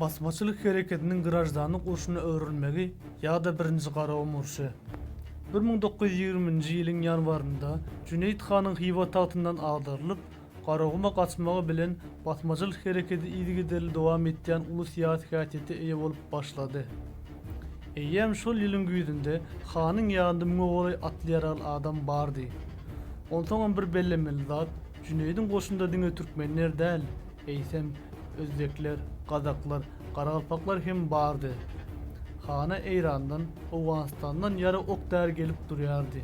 Basmaçylyk hereketiniň graždanlyk urşuna öwrülmegi ýa-da birinji garagum urşy. Bir müň dokuz ýüz ýigriminji ýylyň ýanwarynda Jüneýit hanyň Hywa tagtyndan agdarylyp, garaguma gaçmagy bilen basmaçylyk hereketi yzygiderli dowam etýän uly syýasy häsiýete eýe bolup başlady. Eýýäm şol ýylyň güýzünde hanyň ýanynda müňe golaý atly-ýaragly adam bardy. Onsoňam bir bellemeli zat, Jüneýdiň goşunda diňe türkmenler däl, eýsem, özbekler, gazaklar, garagalpaklar hem bardy. Hana Eýrandan, Owganystandan ýarag ok-däri gelip durýardy.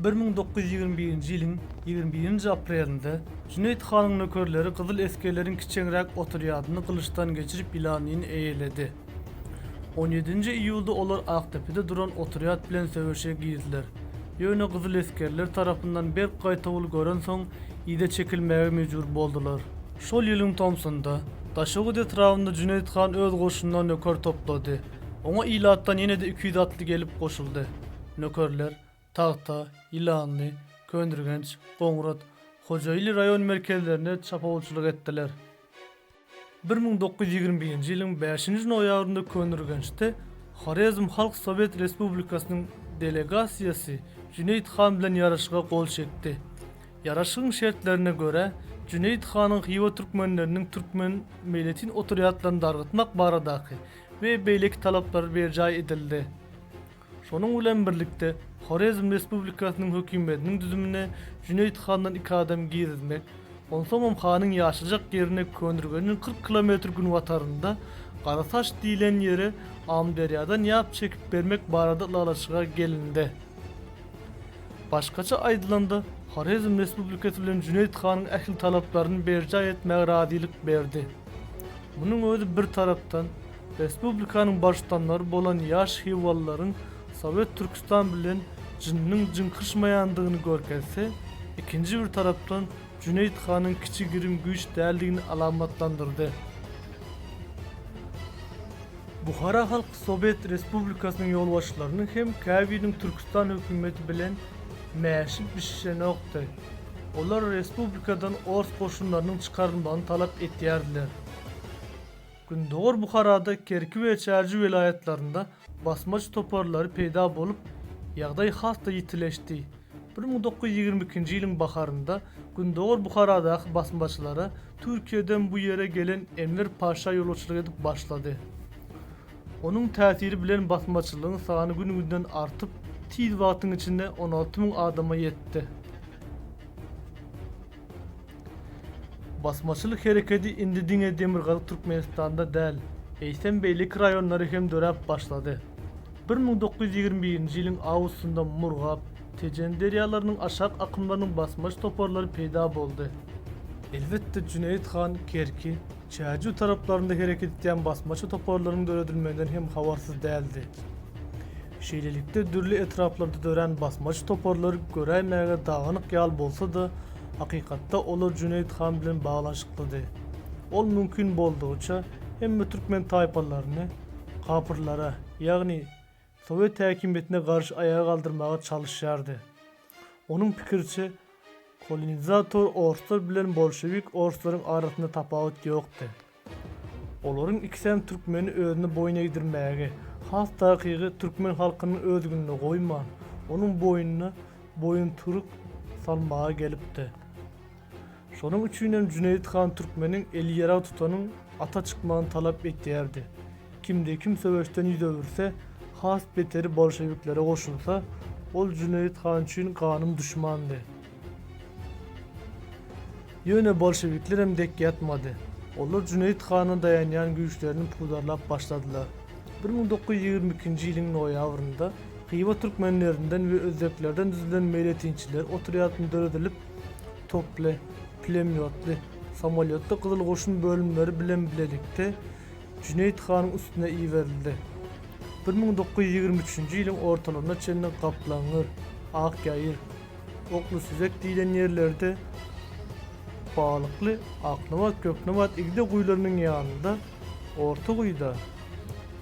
Bir müň dokuz ýüz ýigrimi birinji ýylyň ýigrimi birinji aprelinde Jüneýit hanyň nökerleri gyzyl esgerleriň kiçeňräk otrýadyny gylyçdan geçirip ýylanyny eýeledi. On ýedinji iýulda olar Akdepede duran otrýad bilen söweşe girdiler. Ýöne gyzyl esgerler tarapyndan berk gaýtawul görensoň, yza çekilmäge mejbur boldular. Şol ýylyň tomsunda, Daşoguz etrabynda Jüneýit han öz goşunyna nöker toplady. Oňa ilatdan ýene-de iki ýüz atly gelip goşuldy. Nökerler, Tagta, Ýylanly, Köndürgenç, Goňrat, Hojaili raýon merkezlerinde çapawulçylyk etdiler. Bir müň dokuz ýüz ýigrimi birinji ýylyň bäşinji noýabrynda Köneürgençde Horezm Halk Sowet Respublikasynyň delegasiýasy Jüneýit han bilen ýaraşyga gol çekdi. Ýaraşygyň şertlerine görä, Jüneýit hanyň Hywa türkmenleriniň türkmen meýletin otrýadlaryny dargatmak baradaky we beýleki talaplary berjaý edildi. Şonuň bilen birlikde, Horezm Respublikasynyň hökümetiniň düzümine Jüneýit handan iki adam girizmek, onsoňam hanyň ýaşajak ýerine Köneürgenjiň kyrk kilometr günbatarynda Garataş diýlen ýere Amyderýadan ýap çekip bermek barada ylalaşyga gelindi. Başgaça aýdylanda, Horezm Respublikasy bilen Jüneýit hanyň ähli talaplaryny berjaý etmäge razylyk berdi. Munuň özi bir tarapdan, Respublikanyň baştutanlary bolan ýaş hywalylaryň Sowet Türküstan bilen jynnyň jyňkyşmaýandygyny görkezse, ikinji bir tarapdan Jüneýit hanyň kiçi-girim güýç däldigini alamatlandyrdy. Buhara Halk Sowet Respublikasynyň ýolbaşçylarynyň hem käbiriniň Türküstan hökümeti bilen mäşi bişişenokdy. Olar respublikadan ors goşunlarynyň çykarylmagyny talap etýärdiler. Gündogar Buharada Kerki we Çärji welaýatlarynda basmaç toparlary peýda bolup, ýagdaý has-da ýitileşdi. Bir müň dokuz ýüz ýigrimi ikinji ýylyň baharynda Gündogar Buharadaky basmaçylara Türkiýeden bu ýere gelen Enwer Paşa ýolbaşçylyk edip başlady. Onuň täsiri bilen basmaçylygyň sany gün-günden artyp, tiz wagtyň içinde on alty müň adama ýetdi. Basmaçylyk hereketi indi diňe Demirgazyk Türkmenistanda däl, eýsem beýleki raýonlara hem döräp başlady. Bir müň dokuz ýüz ýigrimi birinji ýylyň awgustynda Murgap, Tejen derýalarynyň aşak akymlarynyň basmaç toparlary peýda boldy. Elbetde, Jüneýit han Kerki, Çärjew taraplarynda hereket edýän basmaçy toparlaryň döredilmeginden hem habarsyz däldi. Şeýlelikde, dürli etraplarda dörän basmaçy toparlar göräýmäge dagynyk ýaly bolsa-da, hakykatda olar Jüneýit han bilen baglanyşyklydy. Ol mümkin boldugyça hemme türkmen taýpalaryny kapyrlara, ýagny sowet häkimiýetine garşy aýaga galdyrmaga çalyşýardy. Onuň pikiriçe, kolonizator orslar bilen bolşewik orslaryň arasynda tapawut ýokdy. Olaryň ikisem türkmeni özüne boýun egdirmäge, has takygy türkmen halkynyň özgünini goýman, onuň boýnuna boýunturyk salmaga gelipdi. Şonuň üçinem Jüneýit han türkmeniň eli ýarag tutanyň ata çykmagyny talap etýärdi. Kimde-kim söweşden ýüz öwürse, has beteri bolşewiklere goşulsa, ol Jüneýit han üçin ganym duşmandy. Ýöne bolşewiklerem dek ýatmady. Olar Jüneýit hana daýanýan güýçlerini pudarlap başladylar. Bir müň dokuz ýüz ýigrimi ikinji ýylyň noýabrynda Hywa türkmenlerinden we özbeklerden düzülen meýletinçiler otrýadyny döredilip, toply, pulemýotly, samolýotly Gyzyl goşun bölümleri bilen bilelikde Jüneýit hanyň üstüne iberildi. Bir müň dokuz ýüz ýigrimi üçünji ýylyň ortalaryna çenli Gaplaňgyr, Akýaýyr, Okly süzek diýlen ýerlerde Balykly, Aknabat, Göknabat igde guýularynyň ýanynda, orta guýuda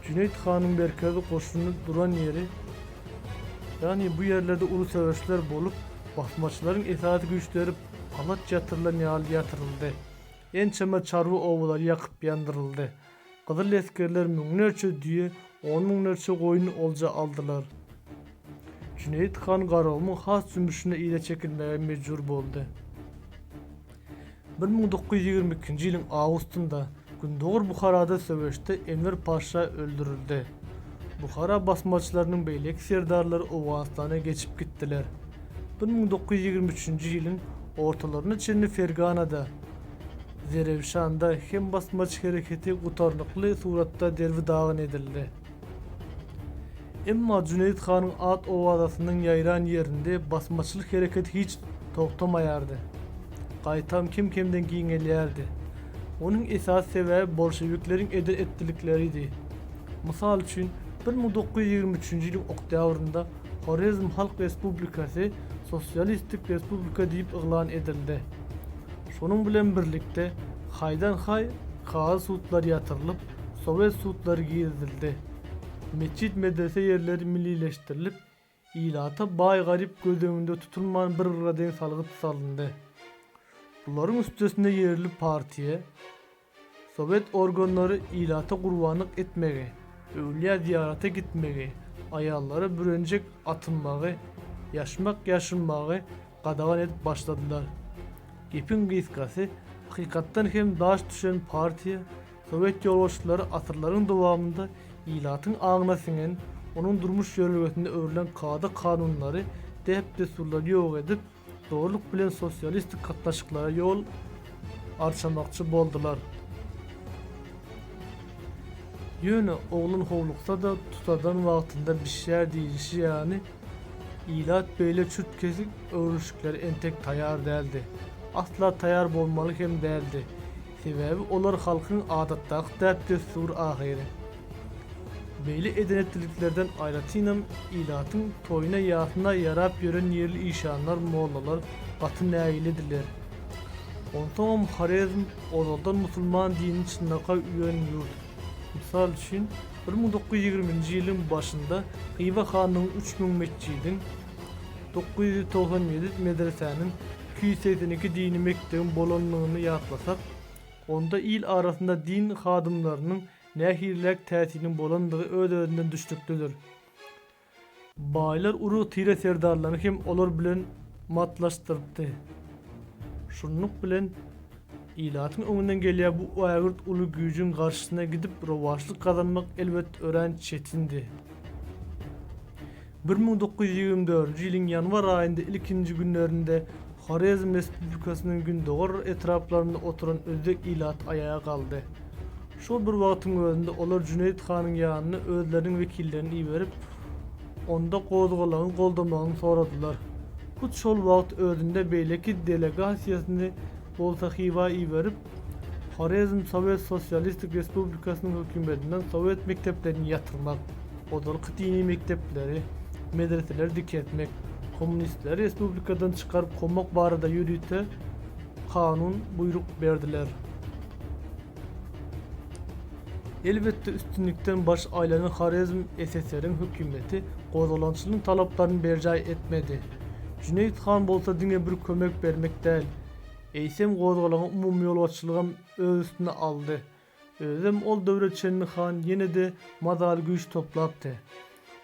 Jüneýit hanyň merkezi goşuny duran ýeri, ýagny bu ýerlerde uly söweşler bolup, basmaçylaryň esasy güýçleri alaç ýatyrylan ýaly ýatyryldy. Ençeme çarwa obalary ýakyp-ýandyryldy. Gyzyl esgerler müňlerçe düýe, on müňlerçe goýun olja aldylar. Jüneýit han Garagumyň has jümmüşine yza çekilmäge mejbur boldy. Bir müň dokuz ýüz ýigrimi ikinji ýylyň awgustynda Gündogar Buharada söweşde Enwer paşa öldürildi. Buhara basmaçylarynyň beýleki serdarlary Owganystana geçip gitdiler. Bir müň dokuz ýüz ýigrimi üçünji ýylyň ortalaryna çenli Ferganada, Zerewşanda hem basmaçy hereketi gutarnykly suratda derbi-dagyn edildi. Emma Jüneýit hanyň at-owazasynyň ýaýran ýerinde basmaçylyk hereketi hiç togtamaýardy. Gaýtam kem-kemden giňelýärdi. Onuň esasy sebäbi bolşewikleriň eden-etdilikleridi. Mysal üçin, bir müň dokuz ýüz ýigrimi üçünji ýylyň oktýabrynda Horezm Halk Respublikasy sosialistik respublika diýip yglan edildi. Şonuň bilen birlikde haýdan-haý kazy sudlar ýatyrylyp, sowet sudlary girizildi. Metjit-medrese ýerleri millileşdirilip, ilata baý-garyp göz öňünde tutulman bir-birine deň salgyt salyndy. Bularyň üstesine ýerli partiýa, Sowet organlary ilata gurbanlyk etmegi, öwlýä zyýarata gitmegi, aýallara bürenjek atynmagy, ýaşmak ýaşynmagy gadagan edip başladylar. Gepiň gysgasy, hakykatdan hem daş düşen partiýa, sowet ýolbaşçylary asyrlaryň dowamynda ilatyň aňyna siňen, onuň durmuş ýörelgesinde öwrülen kada-kanunlary, däp-dessurlary ýok edip, Dogrulyk bilen sosialistik gatnaşyklara ýol arçamakçy boldular. Ýöne oglan howluksa-da tutadan wagtynda bişýär diýilişi ýaly, ilat beýle çürt-kesik öwrülişiklere entek taýar däldi. Asla taýar bolmaly hem däldi. Sebäbi olar halkyň adatdaky däp-dessur ahyry. Beýle edenetliliklerden aýratynam ilatyň toýuna-ýasyna ýarap ýören ýerli işanlar, mollalar gaty nägilediler. Onsoňam Horezm ozaldan musulman dinini çynlaka üwen ýurt. Mysal üçin, bir müň dokuz ýüz ýigrimi nji ýylyň başynda Hywa hanlygyň üç müň metjidiň, Dokuz ýüz togsan ýedi medresäniň, iki ýüz segsen iki dini mekdebiň bolandygyny ýatlasak, onda il arasynda din hadymlarynyň nähiliräk täsiriniň bolandygy öz-özünden düşnüklidir. Baýlar urug-tire serdarlaryny hem olar bilen matlaşdyrypdy. Şunluk bilen, ilatyň öňünden gelýän bu ägirt uly güýjüň garşysyna gidip rowaçlyk gazanmak elbet örän çetindi. Bir müň dokuz ýüz ýigrimi dördünji ýylyň ýanwar aýynda ilkinji günlerinde Horezm Respublikasynyň gündogar etraplarynda oturan özbek ilaty aýaga galdy. Şol bir wagtyň özünde olar Jüneýit hanyň ýanyna özleriniň wekillerini iberip, onda gozgalaňy goldamagyny soradylar. Hut şol wagt özünde beýleki delegasiýasyny bolsa Hywa iberip, Horezm Sowet Sosialistik Respublikasynyň hökümetinden sowet mekdeplerini ýatyrmak, ozalky dini mekdepleri, medreseleri dikeltmek, kommunistleri respublikadan çykaryp kowmak barada ýörite kanun, buýruk, berdiler. Elbetde, üstünlikden baş aýlanan Horezm SSR-iň hökümeti gozgalaňçylygyň talaplaryny berjaý etmedi. Jüneýit han bolsa diňe bir kömek bermek däl, Eýsem, gozgalaňy umumyýolbaşçylygam öz üstüne aldy. Özem ol döwre çenli han ýene-de mazaly güýç toplapdy.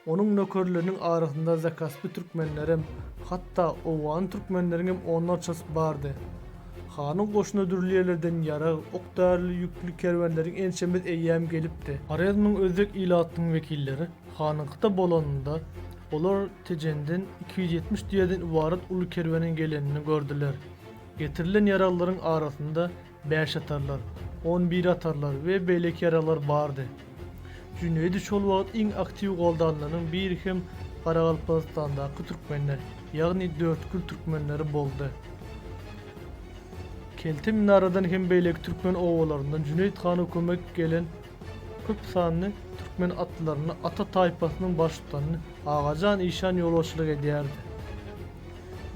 Onuň nökerleriniň arasynda zakaspy türkmenlerem, hatda owgan türkmenleriňem onlarçasy bardy. Hanyň goşuny dürli ýerlerden ýarag, ok-däri ýükli kerwenleriň ençemesi eýýäm gelipdi. Horezmiň özbek ilatynyň wekilleri hanyňkyda bolanynda, olar Tejenden iki ýüz ýetmiş düýeden ybarat uly kerweniň gelenini gördüler. Getirilen ýaraglaryň arasynda bäşatarlar, onbiratarlar we beýleki ýaraglar bardy. Jüneýdi şol wagt iň aktiw goldanlanyň biri hem Garagalpagystandaky türkmenler, ýagny Dörtgül türkmenleri boldy. Kelte Minaradan hem beýleki türkmen obalaryndan Jüneýit hana kömek gelen köp sanly türkmen atlylaryny, ata taýpasynyň baştutanyny, Agajan işan ýolbaşçylyk edýärdi.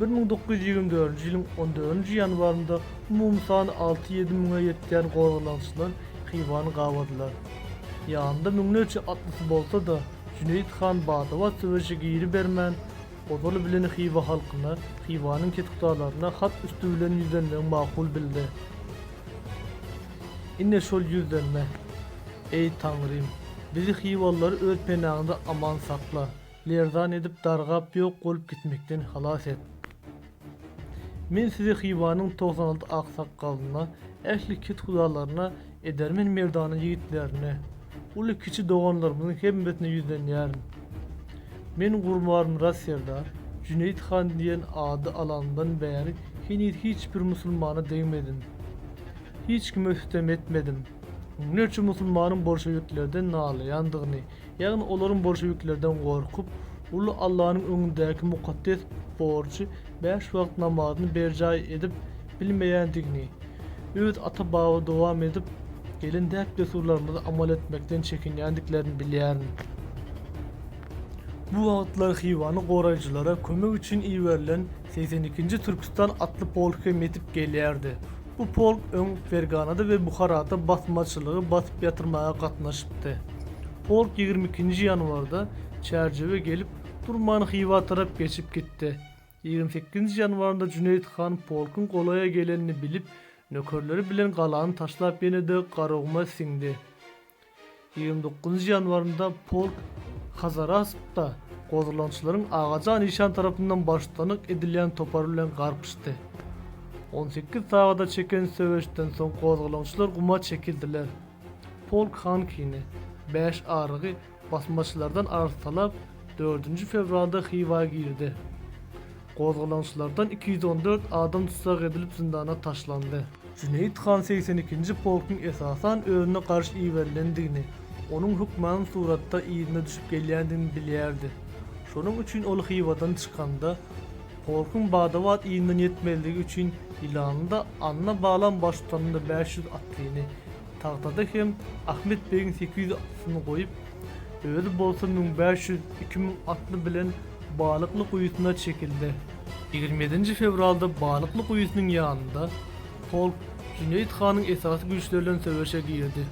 Bir müň dokuz ýüz ýigrimi dördünji ýylyň on dördünji ýanwarynda umumy sany alty-ýedi müňe ýetýän gozgalaňçylar Hywany gabadylar. Ýanynda müňlerçe atlysy bolsa-da, Jüneýit han bada-bat söweşe giribermän, ozaly bilen Hywa halkyna, Hywanyň ketukdalaryna hat üsti bilen ýüzlenmegi makul bildi. Ine şol ýüzlenme. Eý, Taňrym, bizi hywalylary öz penaňda aman sakla, lerzan edip dargap ýok bolup gitmekden halas et. Men sizi Hywanyň togsan alty aksakgalyna, ähli kethudalaryna, edermen merdana ýigitlerine, Uly-kiçi doganlarymyzyň hemmesine ýüzlenýärin. Men Gurbanmyrat serdar, Jüneýit han diýen ady alanymdan bäri heniz hiç bir musulmana degmedim. Hiç kime sütem etmedim. Müňlerçe musulmanyň bolşewiklerden nalaýandygyny, ýagny olaryň bolşewiklerden gorkup, uly Allanyň öňündäki mukaddes borjy bäş wagt namazyny berjaý edip, bilmeýändigini, öz ata-baba dowam edip gelen däp-dessurlarymyzy amal etmekden çekinýändiklerini bilýärin. Bu wagtlar Hywany goraýjylara kömek üçin iberilen segsen ikinji Türküstan atly polk hem ýetip gelýärdi. Bu polk öň Ferganada we Buharada basmaçylygy basyp ýatyrmaga gatnaşypdy. Polk ýigrimi ikinji ýanwarda Çärjewe gelip durman Hywa tarap geçip gitdi. Ýigrimi sekizinji ýanwarynda Jüneýit han polkuň golaýa gelenini bilip, nökerleri bilen galany taşlap ýene-de Garaguma siňdi. Ýigrimi dokuzynjy ýanwarynda polk Hazarasp-da gozglançylaryň Agajan işan tarapyndan baştutanlyk edilýän topary bilen garpyşdy. On sekiz sagada çeken söweşden soň gozgalaňçylar guma çekildiler. Polk Hankini, Bäş arygy, Basmaçylardan arz talap dördünji fewralda Hywa girdi. Gozgalaňçylardan iki ýüz on dört adam tussag edilip zyndana taşlandy. Jüneýit han segsen ikinji polkuň esasan özüne garşy iberilendigini, onuň hökman suratda yzyna düşüp gelýändigini bilýärdi. Şonuň üçin ol Hywadan çykanda, polkuň bada-bat yzyndan ýetmezligi üçin Ýylanlyda Anna Balam baştutanda bäş ýüz atlyny, Tagtada hem Ahmet begiň sekiz ýüz atlysyny goýup, özi bolsa müň bäş ýüz, iki müň atly bilen Balykly guýusyna çekildi. Ýigrimi ýedinji fewralda Balykly guýusynyň ýanynda polk Jüneýit hanyň esasy güýçleri bilen söweşe girdi.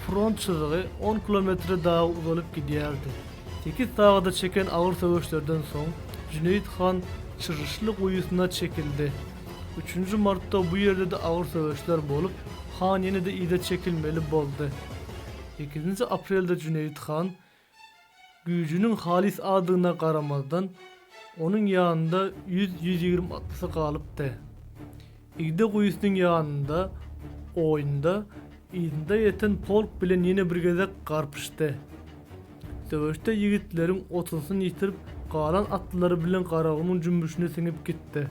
Front çyzygy on kilometre dagy uzalyp gidýärdi. Sekiz sagada çeken agyr söweşlerden soň Jüneýit han Çyrryşly guýusyna çekildi. Üçünji martda bu ýerde-de agyr söweşler bolup, han ýene-de yza çekilmeli boldy. Sekizinji aprelde Jüneýit han, güýjüniň halys azdygyna garamazdan, onuň ýanynda ýüz-ýüz ýigrimi atlysy galypdy. Igde guýusynyň ýanynda, oýunda, yzynda ýeten polk bilen ýene bir gezek garpyşdy. Söweşde ýigitleriň otuzysyny ýitirip, galan atlylary bilen Garagumuň jümmüşine siňip gitdi.